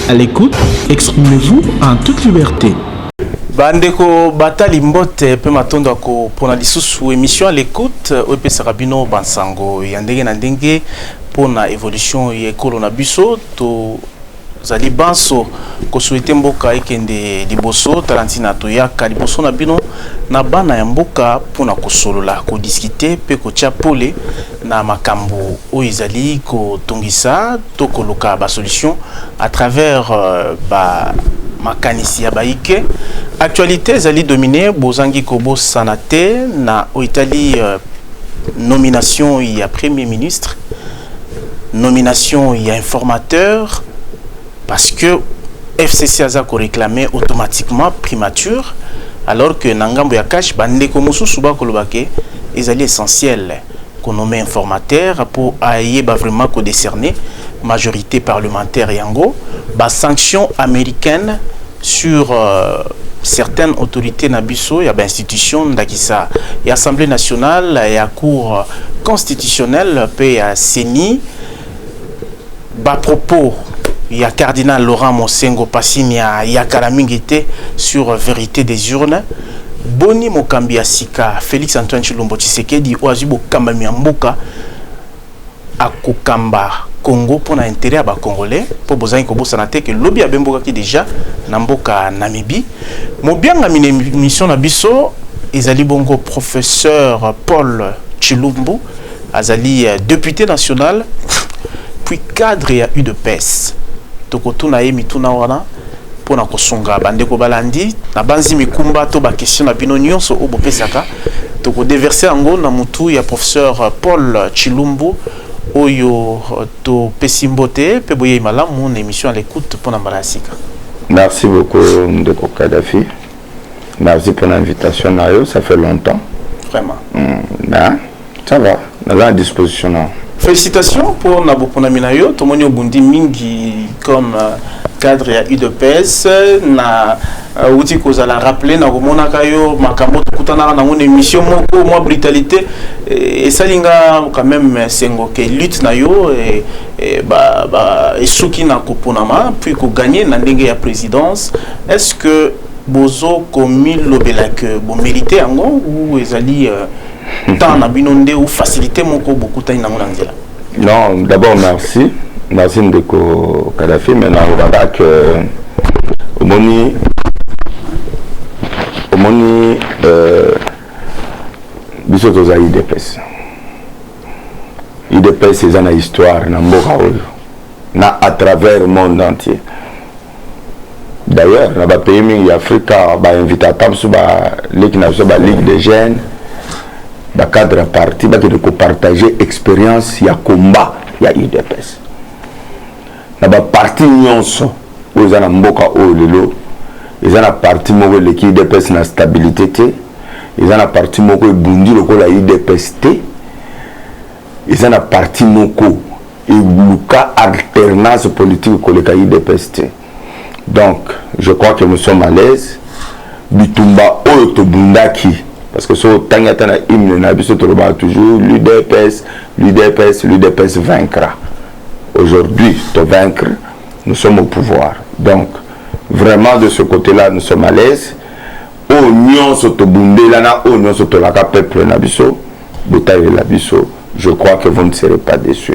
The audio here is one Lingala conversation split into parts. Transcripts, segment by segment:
À l'écoute, exprimez-vous en toute liberté. bandeko batali mbote mpe matondo ya kopona lisusu émission à l'écoute oyo epesaka bino bansango ya ndenge na ndenge mpo na évolution ya ekolo na biso to Tozali banso kosuete mboka ekende liboso tala ntina toyaka liboso na bino na bana ya mboka mpo na kosolola kodiskite mpe kotya pole na makambo oyo ezali kotungisa to koluka basolution à travers euh, ba makanisi ya baike actualité ezali domine bozangi kobosana te na oyo etali euh, nomination ya premier ministre nomination ya informateur parce que fcc aza koreclame automatiquement primature alors que na ngambo ya cash bandeko mosusu bakoloba ke ezali essentiel konome informateur mpo ayeba vraiment kodécerner majorité parlementaire yango basanction américaine sur euh, certaines autorités na biso ya bainstitution ndakisa ya assemblée nationale ya cour constitutionnelle mpe ya ceni bapropos ya cardinal laurent mosengo pasimia ya kala mingi te sur vérité des urnes boni mokambi ya sika félix antoine chilombo tshisekedi oyo azwi bokambami ya mboka akokamba Congo pona interet ya ba congolais po bozangi kobosana te ke lobi abembokaki deja na mboka Namibie mobiangami na emission na biso ezali bongo professeur Paul Tshilumbu azali euh, depute national puis cadre ya udps tokotuna ye mituna wana mpo na kosunga bandeko balandi. Nabanzi mikumba to bakestion na bino nyonso oyo bopesaka tokodeverse yango na motu ya professeur Paul Chilumbu oyo euh, topesi mbote mpe boyei malamu na emission ya lekute mpo na mbala ya sika. Merci beaucoup ndeko Kadhafi. Merci pour l'invitation Nayo, ça fait longtemps. Vraiment. Mmh, ben, ça va, dans la disposition. Non. Félicitations pour Nabopona Minayo, Tomonio Bundi Mingi comme euh, cadre ya udps na euh, uti kozala rappele na komonaka yo makambo tokutanaka nango na émission moko mwa brutalité esali nga quand même sengo ke lutte na yo Eh, ba, ba, esuki na koponama puis koganye na ndenge ya présidence est ce que bozo komilobela ke bomérite yango ou ezali euh, temps na bino nde ou facilité moko bokutani nango na nzela non d'abord merci merci ndeko kadafi mais nalobaka ke omoni omoni euh, biso toza idps udps eza na histoire na mboka oyo na à travers monde entier d'ailleurs na bapays mingi ya afrika bainvite ata mosusu baleki na biso baligue de jeunes bacadre ya parti bakende kopartage expérience ya combat ya udps Na ba parti nyonso oyo eza na mboka oyo lelo eza na parti moko eleki udps na stabilite te eza na parti moko ebundi lokola udps te eza na parti moko eluka alternance politique koleka udps te donc je crois que nous sommes à l'aise bitumba oyo tobundaki parce que soki otangi ata na hymne na biso tolobaka toujours l'udps l'udps l'udps vaincra Aujourd'hui to vaincre nous sommes au pouvoir donc vraiment de ce côté là nous sommes à l'aise oyo nyonso tobundela na oyo nyonso tolaka peuple na biso botalela biso je crois que vous ne serez pas déçu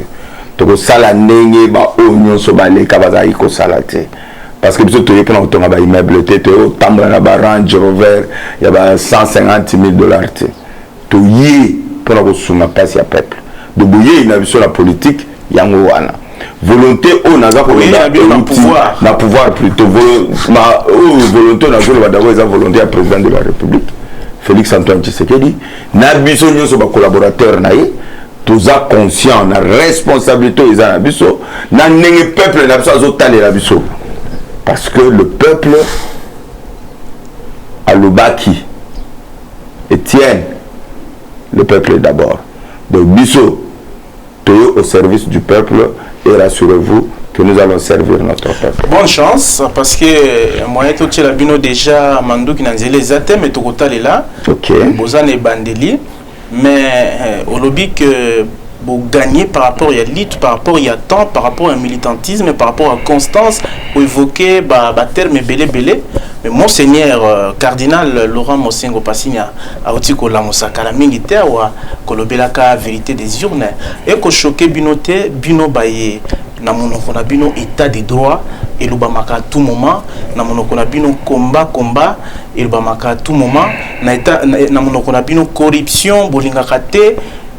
tokosala ndenge baoyo nyonso baleka bazalaki kosala te parce que biso toye mpona kotonga baimmeuble te toye kotambola na barange rover ya ba 150 000 dollar te Toye pona kosunga mpasi ya peuple donc boyeyi na biso na politique yango wana volonte oyo naza koloba ewuti na pouvoir plutot oyo volonte oyo nazoloba dabord eza volonte ya president de la republique Felix Antoine Tshisekedi na biso nyonso ba collaborateurs na ye toza conscient na responsabilité oyo eza na biso na ndenge peuple na biso azotalela biso parce que le peuple alobaki Etienne, le peuple d'abord. Donc biso toye au service du peuple et rassurez-vous que nous allons servir notre peuple. Bonne chance parce que euh, moyen to tshela bino déjà manduki na nzela eza te mais tokotalela. OK. Bozane bandeli mais euh, olobi que bo gagner par rapport ya lutte par rapport ya temps par rapport ya militantisme par rapport à constance ou évoquer ba ba terme ebele ebele mais monseigneur euh, cardinal Laurent Mosengo Pasinya auti ko lamusa kala mingi te awa kolobelaka vérité des urnes et ko choquer bino te bino baye na monoko na bino état de droit elobamaka tout moment na monoko na bino combat combat elobamaka tout moment na, eta, na, na monoko na bino corruption bolingaka te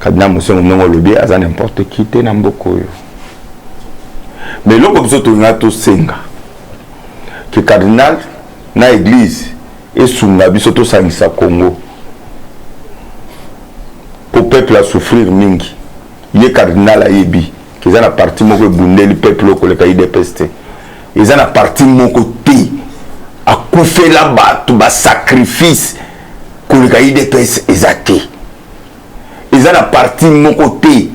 kadina mosengo ndenge olobi aza n'importe qui te na mboka oyo mais eloko biso tolinga tosenga ke cardinal na eglise esunga biso tosangisa congo mpo peuple asouffrir mingi ye cardinal ayebi ke eza na parti moko ebundeli peuple oyo koleka idps te eza na parti moko te akufela bato basacrifice koleka idps eza te eza na parti moko te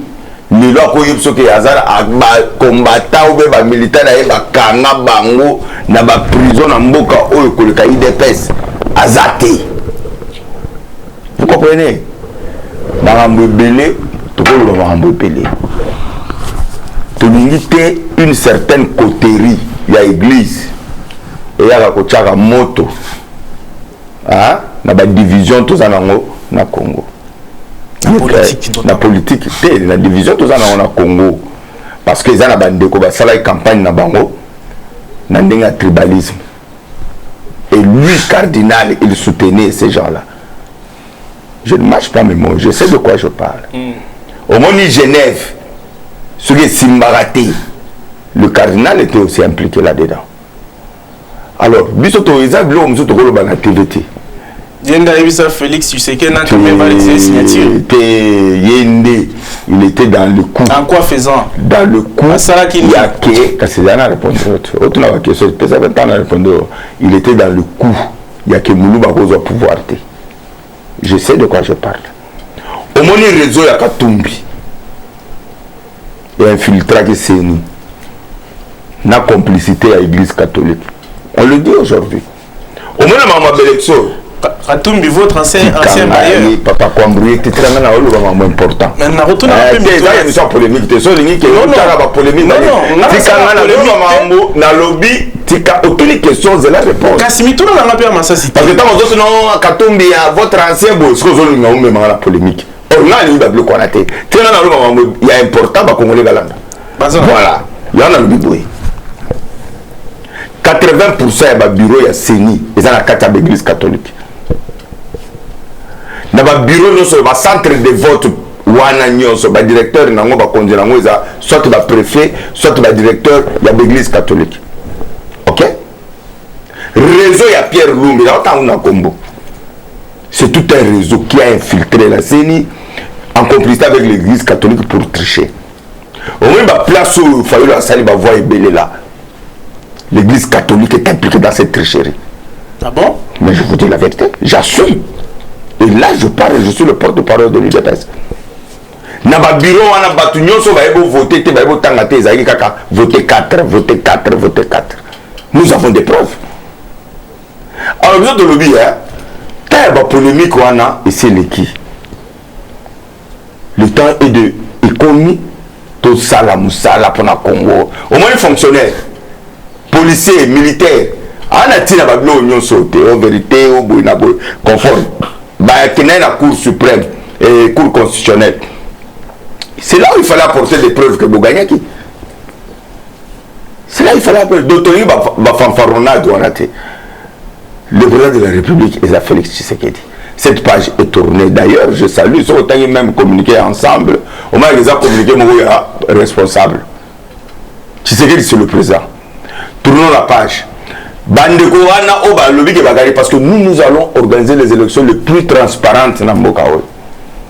lelo akoki biso ke aza bacombatant obe bamilitant na ye bakanga bango na baprison na mboka oyo koleka idps aza te vous comprenez makambo ebele tokoloba makambo ebele tolingi te une certaine coterie ya église eyaka kotyaka moto ah, na ba division toza nango na Congo na politique te na division toza nango na Congo parce que eza na bandeko basalaki campagne na bango na ndenge ya tribalisme et lui cardinal il soutenait ces gens là je ne marche pas mes mots je sais de quoi je parle mm. omoni genève soki esimbaka te le cardinal était aussi impliqué là dedans alors biso to eza biloko mosusu tokoloba na tv te ye nde ayebisa félix tshiseke na kame balekisa signature te ye nde il était dans le coup en quoi faisant dans le coup asalaki nini ya ke kasi ezali na répondre otuna ba question epesaka ntango na répondre il était dans le coup ya ke muluba akozwa pouvoir te Je sais de quoi je parle. Omoni réseau ya Katumbi et infiltraki CENI na complicité ya église catholique. On le dit aujourd'hui. Omona mama belection katumbi votre ancien ancien bailleur papa kwambrie titranga na oloba mambo important mais na retourna eh, pe eza émission polémique te so lingi ke otala ba polémique tikanga na lobi mambo na lobi tika otuni question zela réponse kasi mituna na nga mpe ya masasi te parce que ntango ozosino katumbi ya votre ancien boye soki ozolinga omemanga na polémique or nga alingi babiloko wana te tena naloba mambo ya important bakongole balanda voilà yango nalobi boye 80 pourcent ya babiro ya ceni eza na kati ya baeglise catholique na babiro nyonso ya bacentre de vote wana nyonso ba directeur na ngo bakonzi na ngo eza soit ba prefet soit ba directeur ya baeglise catholique ok réseau ya pierre lumbi na otango na kombo c'est tout un réseau qui a infiltré la ceni en complicité avec l'église catholique pour tricher omoni ba place oyo fayulu asali ba voix ebele la l'église catholique est impliquée dans cette tricherie ah bon mais je vous dis la vérité j'assume et là je parle je suis le porte-parole de l'udps na babiro wana bato nyonso baye bovote te baye botanga te ezalaki kaka vote 4 vote 4 vote 4 nous avons des preuves alors biso tolobi temps ya bapolémike wana esileki Le temps est de ekomi tosala musala pona Congo. Omoni fonctionnaire, policier, militaire ana tina ba biloko nyonso te o verite o boye na boye conforme bakenda na cour suprême et cour constitutionnelle c'est là où il fallait apporter des preuves que bogagnaki cela il fallait appeler donc tolingi bafanfaronnade wana te le président de la république eza félix tshisekedi cette page est tournée d'ailleurs je salue soki otangi même communiqué ensemble omanaki eza communiqué moko ya responsable tshisekedi c'est le président tournons la page bandeko wana oyo balobi ke bakali parce que nous nous allons organiser les élections les plus transparentes na mboka oyo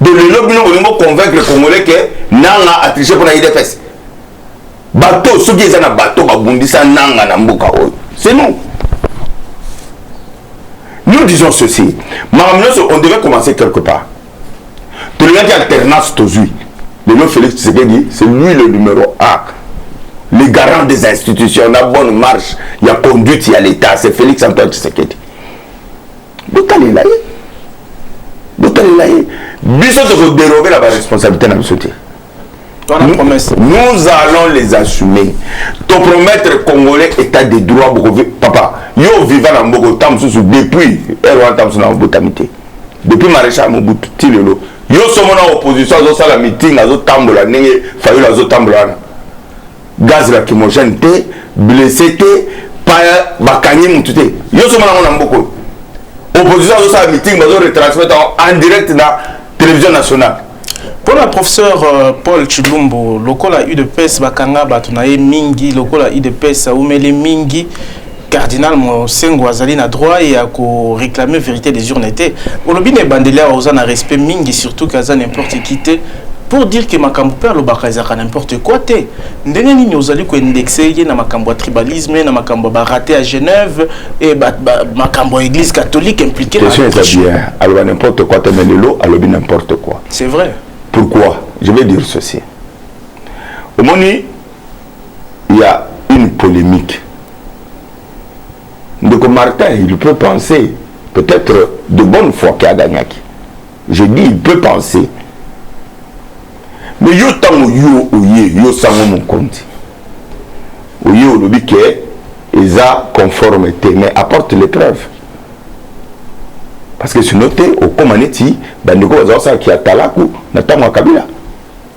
de lelo bino bolingi boconvaincre congolais ke nanga atriche mpo na idps bato soki eza na bato babundisa nanga na mboka oyo c'est nous nous disons ceci makambo nyonso on devait commencer quelque part tolingaki alternance tozwi lelo félix tshisekedi c'est lui le numéro 1 le garant des institutions na bonne marche ya conduite ya l'état c'est félix antoine tshisekedi botalela ye botalela ye biso tokoderoge na baresponsabilité na biso te nous allons les assumer topromettre congolais état de droit bokovi papa yo oviva na mboko ntango mosusu depuis ere wana ntango mosusu na obotami te depuis maréchal mobutu ti lelo yo somo na opposition azosala meeting azotambola ndenge fayulu azotambola wana gaz lacrymogène te blesse te paya bakangi mutu te yo somona yango na mboka oyo opposition azosala meeting bazo retransmettre en direct na télévision nationale mpo na professeur euh, paul chilumbu lokola udps bakanga bato na ye mingi lokola udps aumeli mingi cardinal mosengo azali na droit ya ko réclamer vérité des urnes te olobi na ebandeli awa oza na respect mingi surtout que aza n'importe qui te pour dire que makambo mpe alobaka ezalaka n'importe quoi te ndenge nini ozali koindexe ye na makambo ya tribalisme na makambo ya barate ya genève e makambo ya église catholique impliqué question eza bien aloba n'importe quoi te mais lelo alobi n'importe quoi c'est vrai pourquoi je vais dire ceci omoni ya une polemique ndeko Martin il peut penser peut-être de bonne foi que agagnaki je dis il peut penser mais yo ntango yo oye yo sango mokonzi oye olobi ke eza conforme te mais apporte les preuves parce que sinon te okóma neti bandeko baza kosala kiatalaku na ntango ya kabila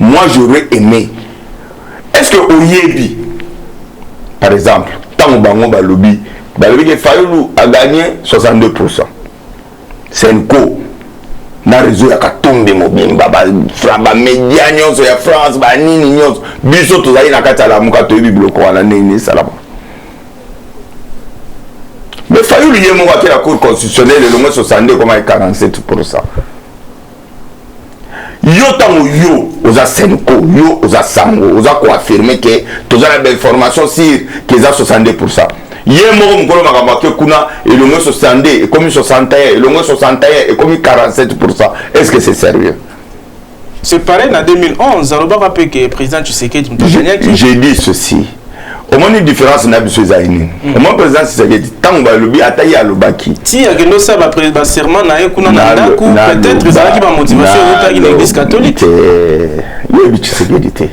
Moi j'aurais aime est ce que oyebi par exemple ntango bango balobi balobi ke fayulu a gagne 62 pourcent senco na réseau ya katumbi mobimba bamedia nyonso ya france banini nyonso biso tozali na kati ya lamuka toyebi biloko wana ndenge esalama mais fayulu ye moko akela cour constitutionnel elongo 62 ekoma 47 pourcent yo ntango yo oza senko yo oza sango oza koaffirme ke toza na bainformation sur ke eza 62 pourcent ye moko mokolo makambo ake kuna elongo 62 ekomi 61 elongo 61 ekomi 47 pourcent est ce que c'est sérieux C'est pareil en 2011, Alobaka Peke, président Tshisekedi, j'ai dit ceci. omoni différence na biso ezali nini mm. omoni président sisekedi ntango balobi ata ye alobaki ti akende osala baserment na ye kuna na ndako peut-être ezalaki bamotivation eutaki na église catholique yebi tshisekedi te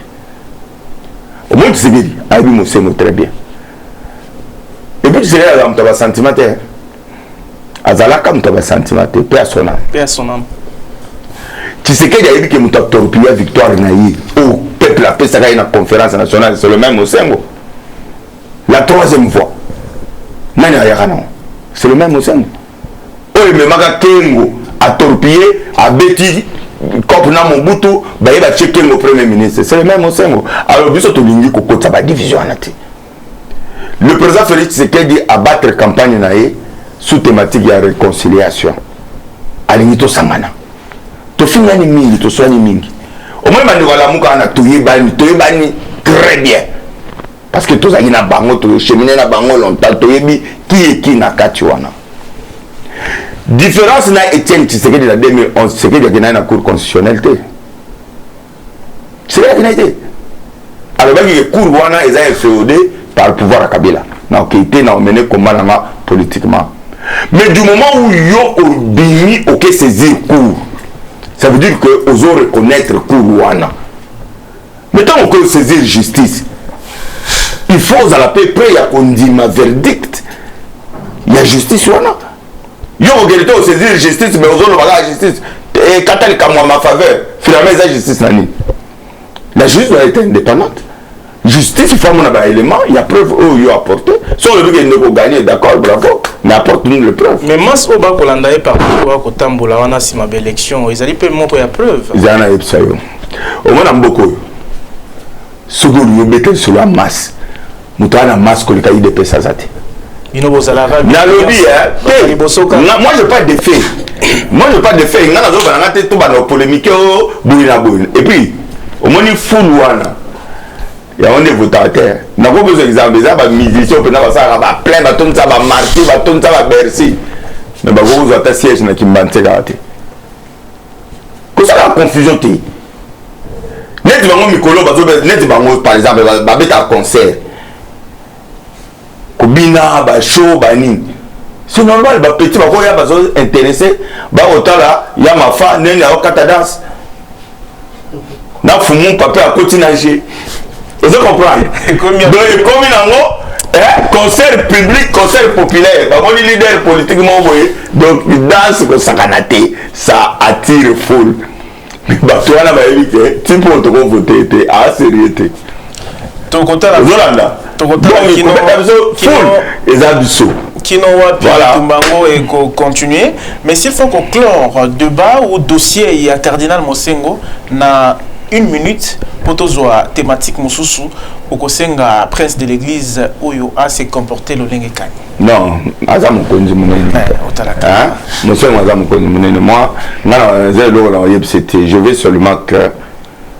omoni tshisekedi ayebi mosengo très bien epuis tshisekedi azala moto ya basentiment te azalaka moto ya basantima te mpe asonama tshisekedi ayebi ke moto atorpilla victoire na ye oyo oh, peuple apesaka ye na conférence nationale c'est le même osengo la troisième voix nani ayaka nango c'est le même osengo oyo oh, ememaka kengo atorpille abeti cop na mobutu baye batie kengo premier ministre c'est le même osengo alors biso tolingi kokotisa badivision wana te le président félix tshisekedi abattre campagne na ye sous thématique ya réconciliation alingi tosangana tofingani mingi toswani mingi omoni bandeko alamuka na toyebani toyebani très bien parce que tozalaki na bango tochemine na bango longtemps toyebi kieki na kati wana différence na etienne tshisekedi na 2011 tshisekedi akendaki na cour constitutionnel te selekaki nai te alobaki ke cour wana eza infeode par le pouvoir ya kabila nakokei te na omene komba na nga politiquement mais du moment où yo obimi oke saisir cour ça veut dire que ozo reconnaître cour wana mais ntango okoki saisir justice il faut ozala mpe près ya kondima verdict ya justice wana yo kokende te osaisir justice mais ozoloba kaka justice ekata likambo ya mafaveur finalement eza justice na nini la justice doit être indépendante justice il faut amona baélément ya preuve oyo yo apporte so olobi ke ndeko gagne d'accord bravo mais apporte nous le preuve mais mas oyo bakolanda ye partout oyo kotambola wana nsima baélection ezali mpe moko ya preuve ezala na yebisa yo omona mboka oyo soki olingi obeta lisolo ya masse moto aa na masse koleka idps aza te bino bozalaka nalobi eh, moi je pas defe moi je pas defe ngai nazobana nga te tobanda polémike o oh, boye na boye et puis omoni fulu wana yango nde votaka te nako bezwa exemple eza bamusicien mpenza basalaka baplein batondisa bamarti batondisa babercy me bakoki kozwa ata siège na kimbanseka te kosala confusion te neti bango mikolo neti bango par exemple babetaka concert kobina bashow banini c'est normal bapeti bakoya bazo intéressé bakotala ya mafa ndenge akokata danse na fumu pape akoti na je ozo comprendre donc ekomi nango eh, concert public concert populaire bamoni leader politique moko boye donc danse kosakana te ça attire foule bato wana bayebi ke ti mpo tokovote te aserieux te tokotala ozolanda tokotala kino kino eza biso kino wapi bitumba yango ekocontinue mais s'il faut koclore debat ou dossier ya cardinal mosengo na une minute mpo tozwa thématique mosusu okosenga prince de l'église oyo ase comporte lolenge kani non aza mokonzi monene eh, mosengo aza mokonzi monene moi ngai naza eloko na oyebisa te je vais seulement que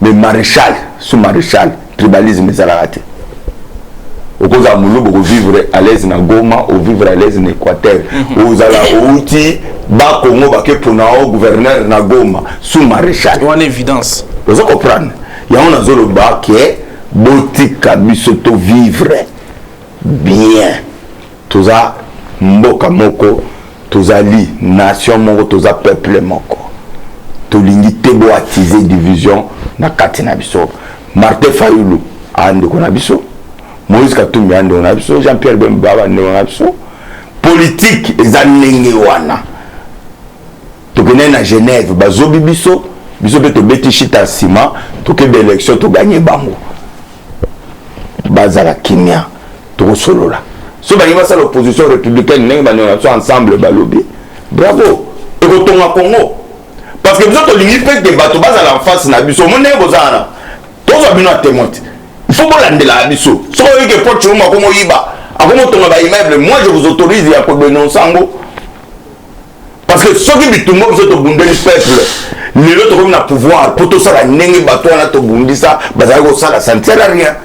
mais marechal sous marechal tribalisme ezalaka te okozala molubu okovivre à l'aise na goma ovivre à l'aise na équateur mhm. ozala outi bakongo bake pona o gouverneur na goma sous maréchal wana évidence oza comprendre yango nazoloba ke botika biso tovivre bien Toza mboka moko, tozali nation moko, toza peuple moko. Tolingi te bo attiser division na kati na biso. Martin Fayulu a ndeko na biso, Moïse Katumbi a ndeko na biso, Jean-Pierre Bemba ba ndeko na biso. Politique eza ndenge wana. Tokende na Genève, bazobi biso, biso pe tobeti shita nsima, tokende élection, toganye bango. bazala kimia tokosolola so balingi basala opposition républicaine ndenge banyona biso ensemble balobi bravo ekotonga congo parce que biso tolingi mpe te bato bazala en face na biso omoni ndenge boza wana tozwa bino ya témoin te ifo bolandelaka biso soki oyike poche omo akomoyiba akomotonga baimmeuble moi je vous autorise ya kodenonce yango parce que soki bitumba biso tobundeli peuple lelo tokomi na pouvoir mpo tosala ndenge bato wana tobundisa bazali kosala ça ne sert à rien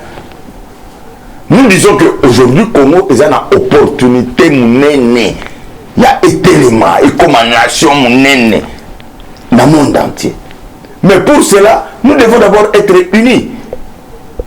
nous disons que aujourd'hui congo eza na opportunité monene ya etelema ekoma nation monene na monde entier mais pour cela nous devons d'abord être unis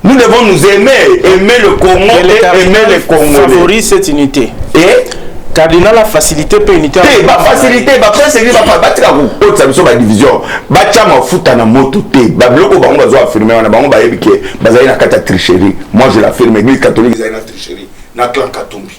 Nous devons nous aimer, aimer le Congo et, et aimer les Congolais. Favorise cette unité. Et cardinal a facilité pe unité. Te, ba facilité, ba facilité, ba ba tika ko kotsa biso ba division. Ba tcha mafuta na moto te. Ba biloko bango bazo affirmer wana bango ba yebi ke bazali na kata tricherie. Moi je l'affirme, l'église catholique ezali na tricherie. Na clan Katumbi.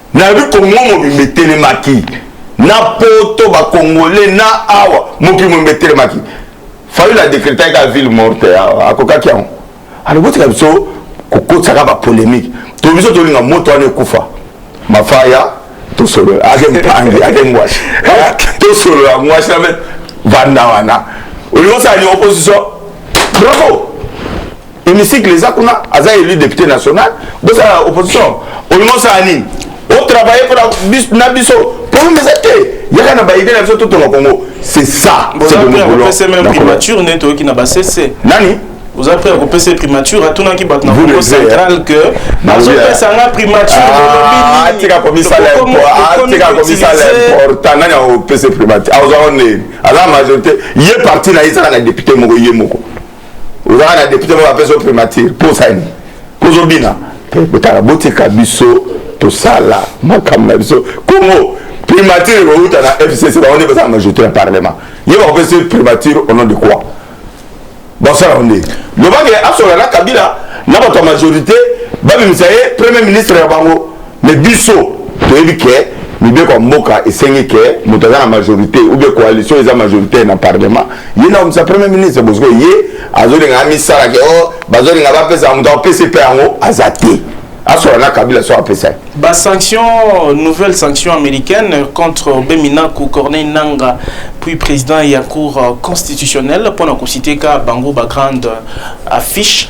Nayebi Congo mobimba etelemaki na poto ba congolais na awa mokili mobimba etelemaki fayulu adekretaki kaka ville morte awa akokaki yango alors botika biso kokotisaka bapolémike to biso tolinga moto wana ekufa mafaya tosolola ake mpangi ake ngwasi tosolola ngwasi na vanda wana olingi osala ni opposition bravo hémicycle eza kuna aza élu député national bosala opposition olingi osala nini otravaille mpo na biso problème eza te yaka na baide na biso totonga congo c'est ça primature nde toyoki na basese nani oza prêt ya kopesa primature atunaki bato na congo central que bazopesa nga primature tika komisala important nani akopesa primature azwaka nini aza majorité ye parti na ye ezalaka député moko ye moko ozalaka na depute moko apesa yo primature posani kozobina botala botika biso tosala makambo na biso congo primature ekouta na fcc bango nde bazala majorité ya parlement ye bakopesa primature au nom de quoi basala yango nde lobake asola na kabila na bato ya majorité babimisa ye premier ministre ya bango Mais biso toyebi ke mibeko ya mboka esengi ke moto aza na majorité ou bien coalition eza majoritaire na parlement ye na omisa premier ministre bosiko ye azolinga amisala ke o oh, bazolinga bapesa moto apesi mpe yango aza te asola na kabila so apesa ye basanction nouvelle sanction américaine contre beminaku corneille nanga puis président ya cour constitutionnelle mpo na kositeka bango bagrande affiche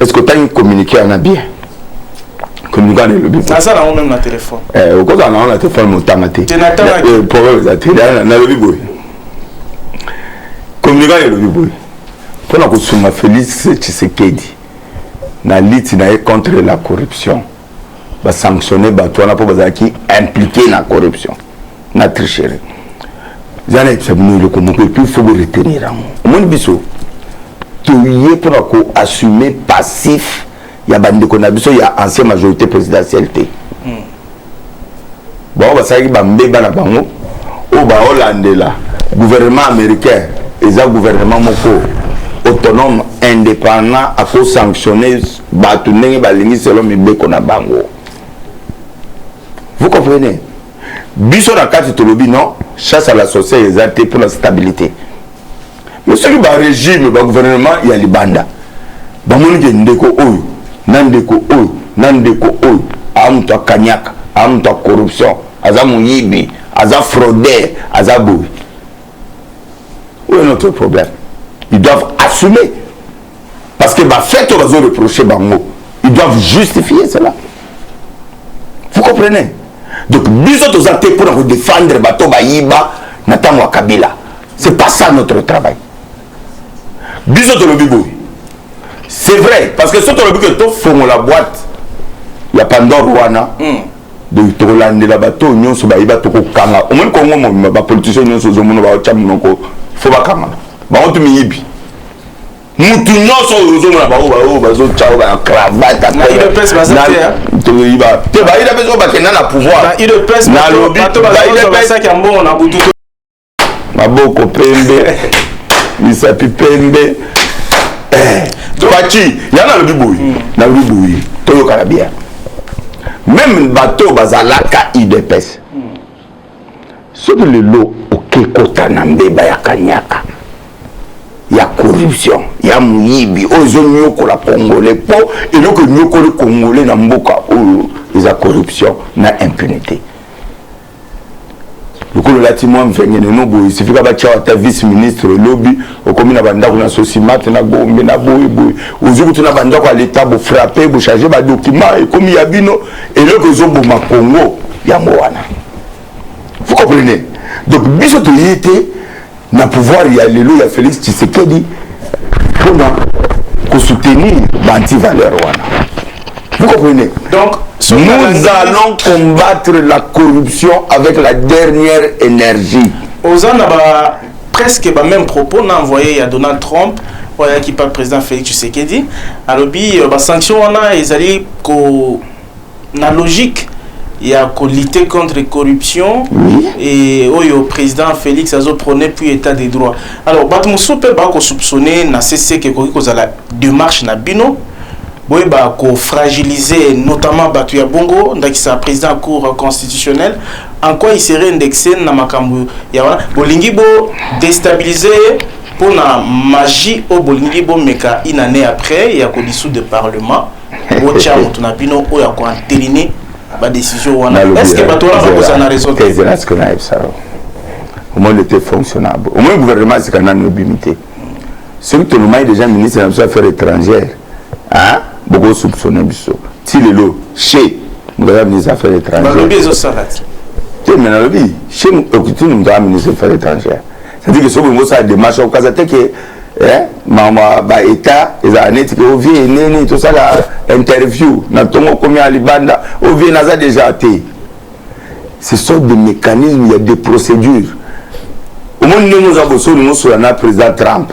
Est-ce que otangi communiqué wana bien communiqué wana elobi naza nango meme na telefone eh, okozala nango na telefone motanga te eh, problème eza te nalobi boye communiqué wana elobi boye mpo na kosunga félix tshisekedi na liti na ye contre la corruption basanctionne bato wana mpo bazalaki impliqué na corruption na tricherie eza na yebisa bino eloko moko epuis fo bo retenir yango omoni biso toye mpo na koassume passif ya bandeko na biso ya ancien majorité présidentielle te hmm. bango basalaki bambeba na bango oyo baolandela gouvernement américain eza gouvernement moko autonome indépendant akosanctionne bato ndenge balingi selon mibeko na bango vous comprenez biso na kati tolobi non chasse à la sorcière eza te mpo na stabilité mais soki barégime bagouvernement ya libanda bamoni ke ndeko oyo na ndeko oyo na ndeko oyo aa moto akaniaka aa moto ya corruption aza moyibi aza frauder aza boye oyo notre problème ils doivent assumer Parce que ba fête va zo reprocher bango. Ils doivent justifier cela. Vous comprenez? Donc biso toza te pour ko défendre bato bayiba na tango Kabila. C'est pas ça notre travail. Biso to lobi boy. C'est vrai parce que soki tolobi que to fongola boîte ya Pandore wana. Mm. donc tokolandela bato oyo nyonso bayiba tokokanga omoni kongo mobima bapolitisien nyonso ozomona baotya monoko fo bakangana bango tu miyibi mutu nyonso oyo ozomona bango baoyo bazotya oyo bana cravate toyiba te baidps oyo bakenda na pouvoir nalobi maboko pembe misapi pembe eh, faci ya nalobi boye hmm. nalobi boye toyokana bien meme bato bazalaka idps soki lelo oke kota na mbeba ya kanyaka ya corruption ya moyibi oyo ezonyokola congolais mpo eloko enyokoli congolais na mboka oyo eza corruption na impunité lokola olati mwa mvengene no boye sifika batya ata vice ministre lobi okomi na bandako na sosimate na gombe na boye boye ozwi kutu na bandako ya leta bofrape bochange badokima ekomi ya bino eloko ezoboma congo yango wana vous comprenez donc biso toye te na pouvoir ya lelo ya félix tshisekedi mpona kosoutenir baantivaleur wana vous comprenez donc nous allons combattre la corruption avec la dernière énergie oza na ba presque ba même propos na envoyé ya Donald Trump oyo ayaki pa président Félix Tshisekedi alobi euh, ba sanction wana ezali ko na logique ya ko lutter contre corruption oui. et oyo président Félix azo prôner puis état de droit alors bato mosusu mpe bako soupçonner na CC ke ekoki kozala démarche na bino boyeba ko fragiliser notamment batu ya bongo ndakisa président ya cour constitutionnelle en quoi il serait indexé na makambo ya wana bolingi bo déstabiliser ye mpo na magie oyo bolingi bomeka une année après ya ko dissoudre parlement botya moto na bino oyo ya koanteline badécision wana est ce que bato wana bakozala na raison omoni ete fonctionnable omoni gouvernement asika nani obimi te soki tolumaki déjà ministre na biso affaire étrangère hein boko soupçonner biso ti lelo chez moto aza ministre affaires étrangères te mais nalobi chez okitini moto aza ministre affaires étrangères c'est-à-dire que soki olingi osala démarche okaza te ke mama baétat ezala neti ke ovie eneni tosala interview na ntongo okomi ya libanda ovie naza déjà te ce sont des mécanismes ya des procédures omoni ndenge oza boso olingi osola na président trump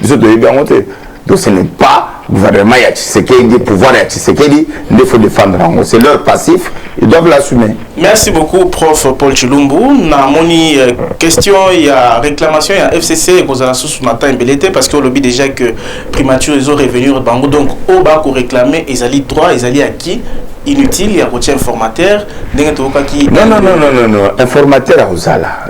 biso toyebi yango te donc ce n'est pas gouvernement ya tshisekedi pouvoir ya tshisekedi nde faut défendre yango c'est leur passif ils doivent l'assumer merci beaucoup prof paul chilumbu namoni euh, question ya réclamation ya fcc ekozala susu na temps ebele te parce que olobi déjà que primature ezo revenir bango donc oyo bakoréclame ezali droit ezali acquis inutile ya kotia informateur ndenge toyokaki non, non, non, non, non, non. informateur akozala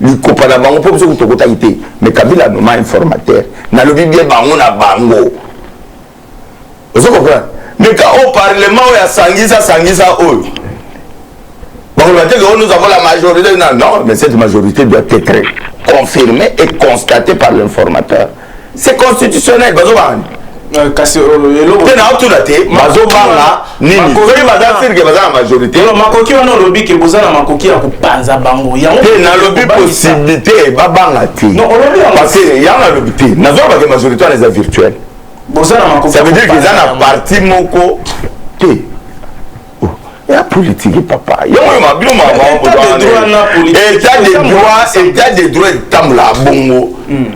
likopa na bango mpo biso kutu tokotaki te mais kabila noma informateur nalobi bie bango na bango ozo comprendre mais ka au parlement oyo asangisa sangisa oyo bakoloba te que nous avons la majorité non mais cette majorité doit être confirmée et constatée par l'informateur c'est constitutionnel bazo banga nini euh, kasi euh, eloko te na otuna te bazo banga nini soki baza sirke baza na majorité makoki wana olobi ke boza na makoki ya kopanza bango yango te nalobi possibilité babanga te parce que yango nalobi te nazwa bake majorité wana eza virtuel boza na makoki ça veut dire que eza na parti moko te ya politiki papa yango ma bino mabaetat de droit etat de droit etambola bongo hmm.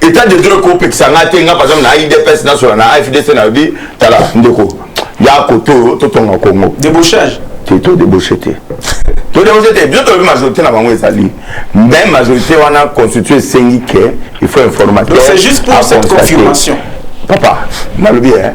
etat de droit ekopekisa ngai te ngai par exemple na idps nasola na afdc nayobi tala ndeko ya kote oyo totonga kongo debauchage te to debauche te to debauche te biso toyebi majorité na bango ezali mais majorité wana constitue esengi ke il faut informateur c'est juste pour cette confirmation papa nalobi hein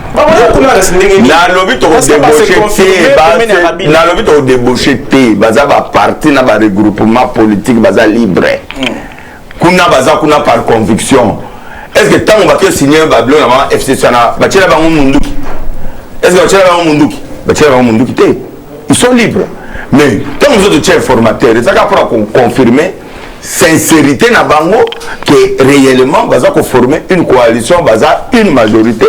nalobi tokodebauche te baza baparti na baregroupement politique baza libre hmm. kuna baza kuna par conviction est ce que ntango bato esigne babilo na mama fcc wana batyela bango munduki est ce que batyela bango munduki batyela bango munduki te ils sont libres mais ntango mosusu totya informateur ezaka mpona koconfirme sincerité na bango que réellement baza ko former une coalition baza une majorité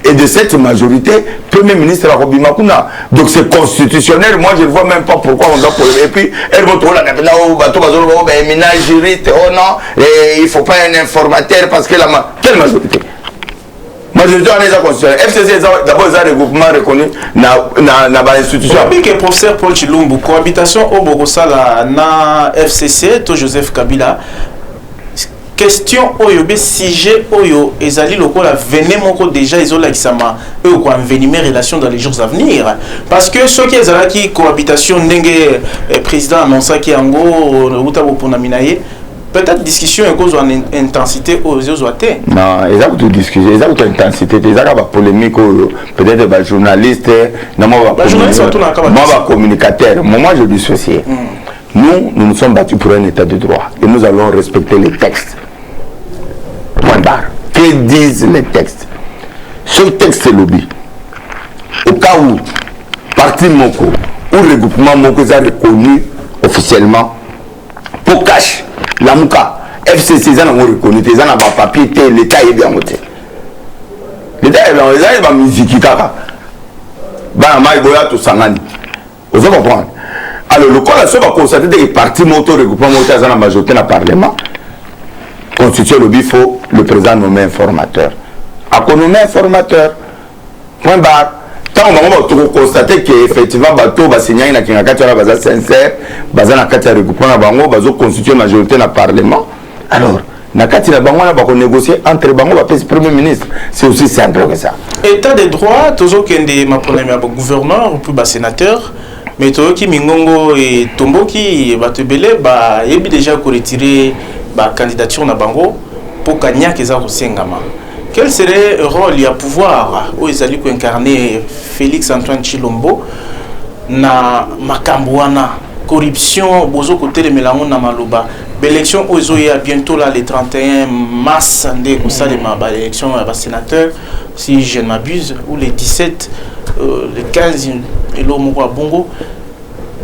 et de cette majorité premier ministre akobima kuna donc c'est constitutionnel moi je ne vois même pas pourquoi on doit polémique et puis elbo tolanda mpena o bato bazoloba o baemina juriste oh non eh, il faut pas un informateur parce que la ma... quelle majorité majorité wana eza constitutionnel fcc eza d'abord eza regroupement reconnu na, na, na bainstitution oyebi ke professeur paul chilumbu cohabitation oyo bokosala na fcc to joseph kabila question oyo be sujet oyo ezali lokola vene moko déjà ezolakisama oyo koenvenime relation dans les jours à venir parce que soki ezalaki cohabitation ndenge eh, président annonsaki yango outa boponami na ye peut-être discussion ekozwa na intensité oyo ezozwa te non eza kutu discussion eza kutu intensité te eza kaka bapolémique oyo peut-être bajournaliste na mwa bacommunicateur moment je dissocie mm. nous nous nous sommes battus pour un état de droit et nous allons respecter les textes point barre que disent les textes ce texte elobi au cas où parti moko ou regroupement moko eza reconnu officiellement po cash lamuka fcc eza nango reconi te eza na bapapier te leta ayebi yango te leta ayebi yango eza ye bamiziki kaka bana mai boya tosangani ozo comprendre alors lokola so bakonstate teke parti moko to regroupement moko te aza na majorité na parlement constitution elobi faut le président nomme informateur akonome informateur point barre ntango bango bato tokokonstate ke effectivement bato oyo basignaki na kingakati wana baza sincère baza na kati ya regroupement na bango bazoconstitue majorité na parlement alors na kati na bango wana bakonégocier entre bango bapesi premier ministre c'est aussi simple que ça état de droit tozokende maponami ya bagouverneur mpe basénateur mais toyoki mingongo etomboki bato ebele bayebi déjà koretire bacandidature na bango mpo kaniaka eza kosengama Quel serait le rôle ya pouvoir oyo ezali ko incarner Félix Antoine Chilombo na makambo wana corruption bozo kotelemela yango na maloba baélection oyo ezoya bientôt là le 31 mars nde ekosalema mm. baélection ya basénateur si je ne m'abuse ou le 17 euh, le 15 eloo moko ya bongo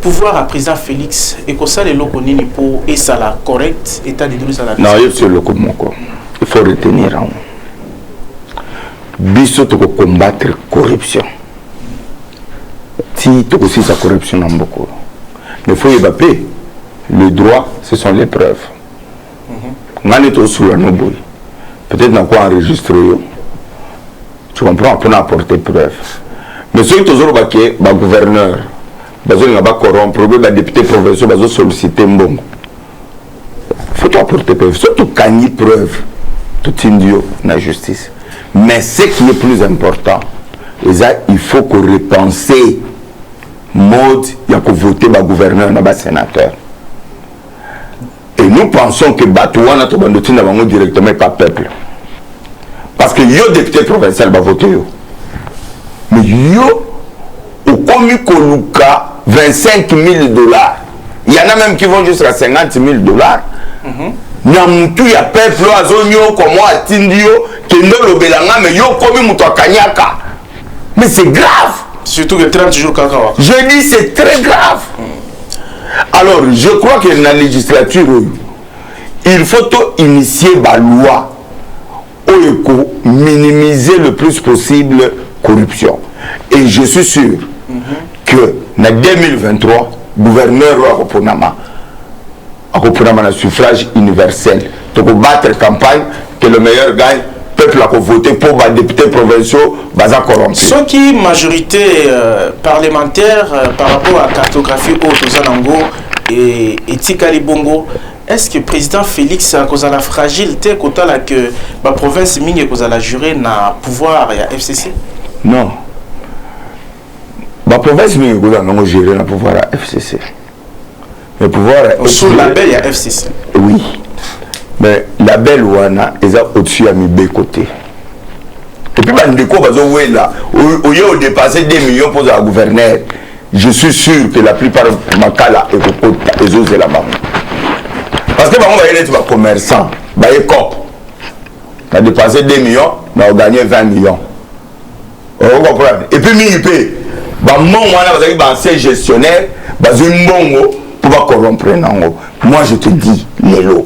pouvoir ya président félix ekosala eloko nini mpo esala correct état de droit ezala nayoki eloko moko il faut retenir yango biso tokocombattre corruption ti tokosilisa corruption na mbokolo mais faut yeba mpe le droit ce sont les preuves nga nde tosula no boye peut-être nako enregistre yo tu comprends mpona apporter preuve mais soki tozoloba ke bagouverneur bazolinga bacorrompre obe badepute provinciaux bazosollicite mbongo faut toapporter preuve soki tokangi preuve totindi yo na justice mais ce qui est plus important eza il faut korepenser mode ya kovote bagouverneur na basénateur et nous pensons que bato wana tobanda otinda bango directement epa peuple parce que yo député provincial bavote yo mais yo okomi koluka 25 000 dollars il y en a même qui vont jusqu'à 50 000 dollars mm -hmm. na mutu ya peuple oyo azonyoko mwa atindi yo kende olobela nga me yo okomi moto akanyaka mais c'est grave surtout que 30 jours kaka waka je dis c'est très grave alors je crois que na législature oyo il faut to initier baloi oyo eko minimiser le plus possible corruption et je suis sûr mm -hmm. que na 2023 gouverneur oyo akoponama akoponama na suffrage universel toko battre campagne que le meilleur gagne peuple ako vote mpo ba députés provinciaux baza corrompu soki majorité euh, parlementaire euh, par rapport à cartographie oyo toza nango e, etikali bongo est ce que président félix akozala fragile te kotala que baprovince mingi ekozala jure na pouvoir ya fcc non baprovince mingi ekozala nango jure na pouvoir ya fcc le pouvoir est sous label ya FCC oui mais label wana eza au-dessus ya mibeko te epuis bandeko bazowela oye odepasse 2 millions mpo ozala gouverneur je suis sûr que la plupart makala ekokota ezozela bango parce que bango baye neti bacommerçant baye cop na dépense 2 millions na oganye 20 millions o comprendre et puis mingi mpe bambongo wana bazali baancien gestionnaire bazwi mbongo mpo bacorrompre nango moi je te dis lelo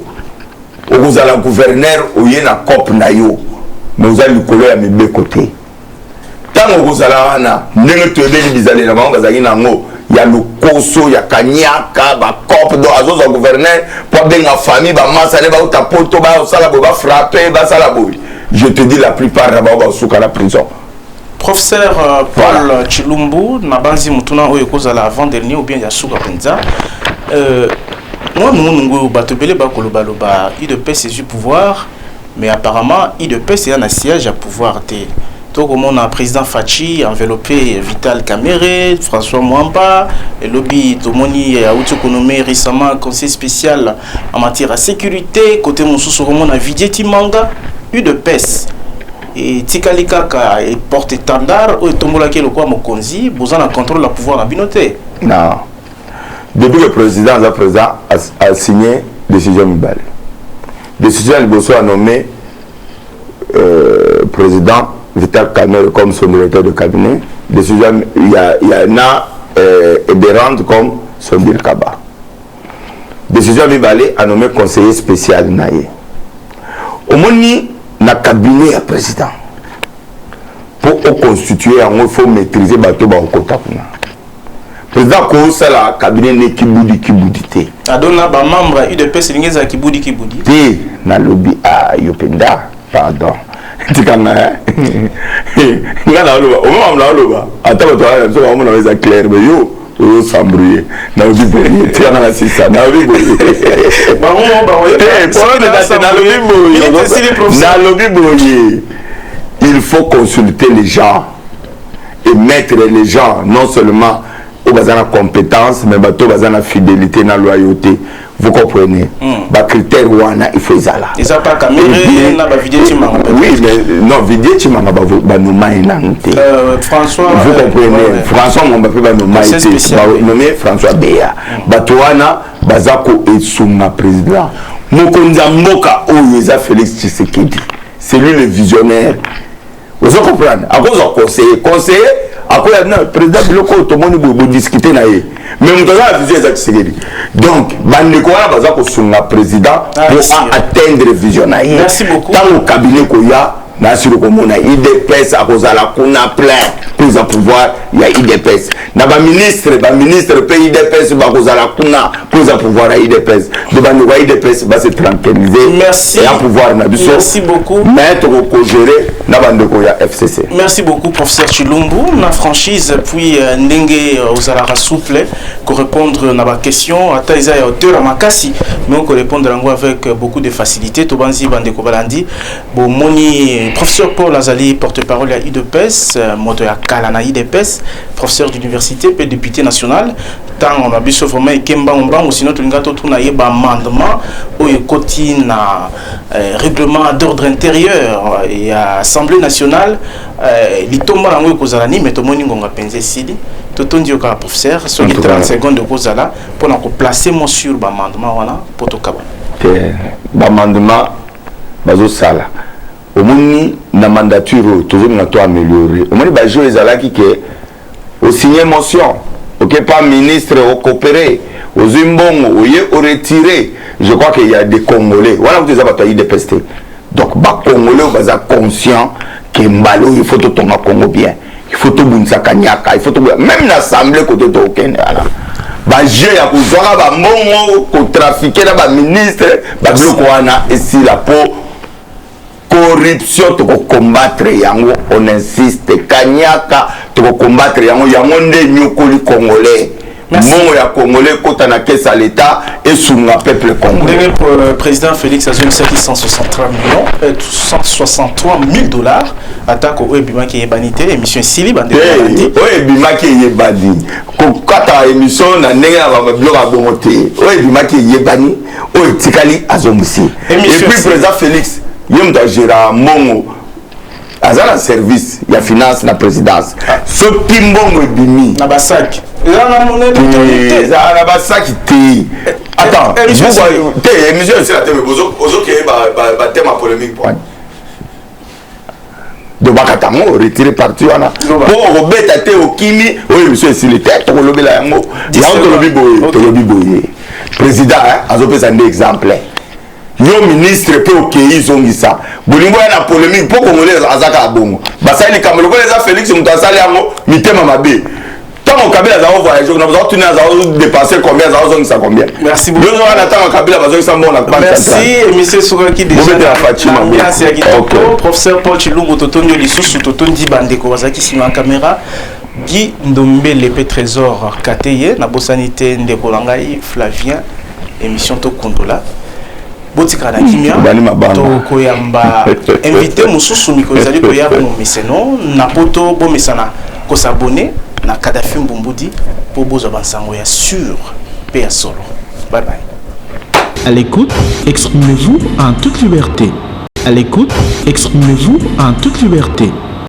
okozala gouverneur oye na cop na yo me oza likolo ya mibeko te ntango okozala wana ndenge toyebeli bizalela bango bazalaki na yango ya lokoso ya kanyaka bacope do azozwa gouverneur mpo abenga famille bamasa nde bauta poto basala boye bafrape basala boye Je te dis la plupart na bango baosuka na prison. Professeur euh, Paul voilà. Chilumbu, nabanzi mutuna oyo ekozala avant dernier ou bien ya suka penza. Euh, moi munu ngo bato bele bakoloba loba IDPS ezui pouvoir mais apparemment IDPS eza na siège ya pouvoir te. tokomona président faci enveloppé vital camere françois mwamba elobi tomoni auti konome récemment conseil spécial en matière ya sécurité kote mosusu okomona vidie timanga udps etikali kaka porte étendard oyo etombolaki lokola mokonzi boza na contrôle ya pouvoir na bino te non depuis le président aza président asigne décision mibale décision ya liboso ya nommé euh, président vital camere comme son directeur de cabinet décision ya, ya na euh, eberande comme son bilkaba decision ya mibale a nomme conseiller spécial na ye omoni na cabinet ya président mpo oconstitue yango il faut maîtriser bato bakokota kuna président akosala cabinet ne kibudi kibudi te adona bamembre ya udps elingi ezala kibudi kibudi te nalobi a ah, yo mpenza pardon tikanga nga naoloba omemamla oloba ata bato aa biso baomona eza claire me yo ozo s'embrouiller nalobi boye tiana na sisa nalobi boye nalobi boye il faut consulter les gens et mettre les gens non seulement oyo baza na compétence mais bato baza na fidélité na loyauté vous comprenez mm. ba critère wana il faut ezala eza pas kamere na ba vidéo chimanga oui mais non vidéo chimanga ba ba no mai na nte euh François vous euh, comprenez ouais, ouais. François mon ba ba no mai te ba nommé François Béa mm. ba toana baza ko esunga président mokonzi ya mboka oyo eza Félix Tshisekedi c'est lui le visionnaire ozo comprendre akozwa conseiller conseiller akoya na président biloko oyo tomoni boye bodiscute na ye mais moto aza na vision eza kisekedi donc bandeko wana baza kosunga président ah, po a atteindre vision na ye ntango kabine koya nasili komona idps akozala kuna plein mpo eza pouvoir ya idps na ba ministre ba ministre mpe idps bakozala kuna mpo eza pouvoir ya idps nde bandeko ya idps base tranquillise ya pouvoir na biso mais tokokogere na bandeko ya fcc merci beaucoup professeur chilumbu na franchise puis euh, ndenge euh, ozalaka souple korépondre na baquestion ata eza ya hauteur ya makasi mais okorépondre yango avec euh, beaucoup de facilité tobanzi bandeko balandi bomoni professeur paul azali porte-parole ya udps euh, moto ya kala na udps professeur d'université mpe député national ntango na biso vraiment eke mbangumbangu sino tolinga totuna ye baamendement oyo ekoti na euh, règlement d'ordre intérieur euh, ya assemblée nationale litomba na yango ekozala nini me tomoni ngonga mpenza esili totondi yo kaka professeur soki 30 seconde okozala mpo na koplace mo sur baamendement wana mpo tokabana baamendement bazo sala omoni na mandature oyo tozolinga to ameliore omoni bajo ezalaki ke osigne motion oke pa ministre okopere ozwi mbongo oye oretire je crois que ya de congolais wana kutu eza bato ya idps te donc bacongolais oyo baza conscient ke mbala oyo ifo totonga congo bien il faut tobundisa kaniaka il faut toboya même na assemblée kote tokende wana bajeu ya kozwaka bambongo kotrafike na baministre babiloko wana esila mpo corruption tokokombatre yango on insiste kaniaka tokokombatre yango yango nde enyokoli congolais mbongo ya congolais ekota na caisse ya leta esunga peuple congolais ndenge euh, président félix azongisaki 163 millions 163 euh, 000 dollars atako oyo ebimaki eyebani te émission esili bandeoyo ebimaki eyebani kokata émission na ndenge ya biloko ya bongo te oyo ebimaki eyebani oyo etikali azongisi epuis président félix ye moto agera mbongo aza na service ya finance na présidence soki mbongo ebimi na basaki ezala na basaki te attends eh, eh, te émission esila te ozokeye batema polémique pwani donc bakata yango retire parti wana mpo okobeta te okimi oyo émission esili te tokolobela yango yango tolobi boye tolobi boye président azopesa nde exemple Yo ministre pe okeyi zongisa bolingo ya na polemique po congolais azaka abongo basali likambo lokola eza Felix moto asali yango mitema mabe ntango kabila azali voyage kuna bazali tuni azali dépense combien azali ozongisa combien merci beaucoup yo wana ntango kabila bazongisa mbongo na banque merci émission esukaki déjà bobetela faci mabe merci ya kitoko professeur Paul Chilungu totondi yo lisusu totondi bandeko bazalaki nsima ya kamera Guy Ndombele pe Trésor Kateye na bosani te ndeko na ngai Flavien emission tokundola botikala na kimia tokoyamba invité mosusu mikolo ezali koya bomomeseno na poto bomesana kosabone na kadafi mbumbudi mpo bozwa bansango ya sur mpe ya solo bye bye À l'écoute, exprimez-vous en toute liberté. À l'écoute, exprimez-vous en toute liberté.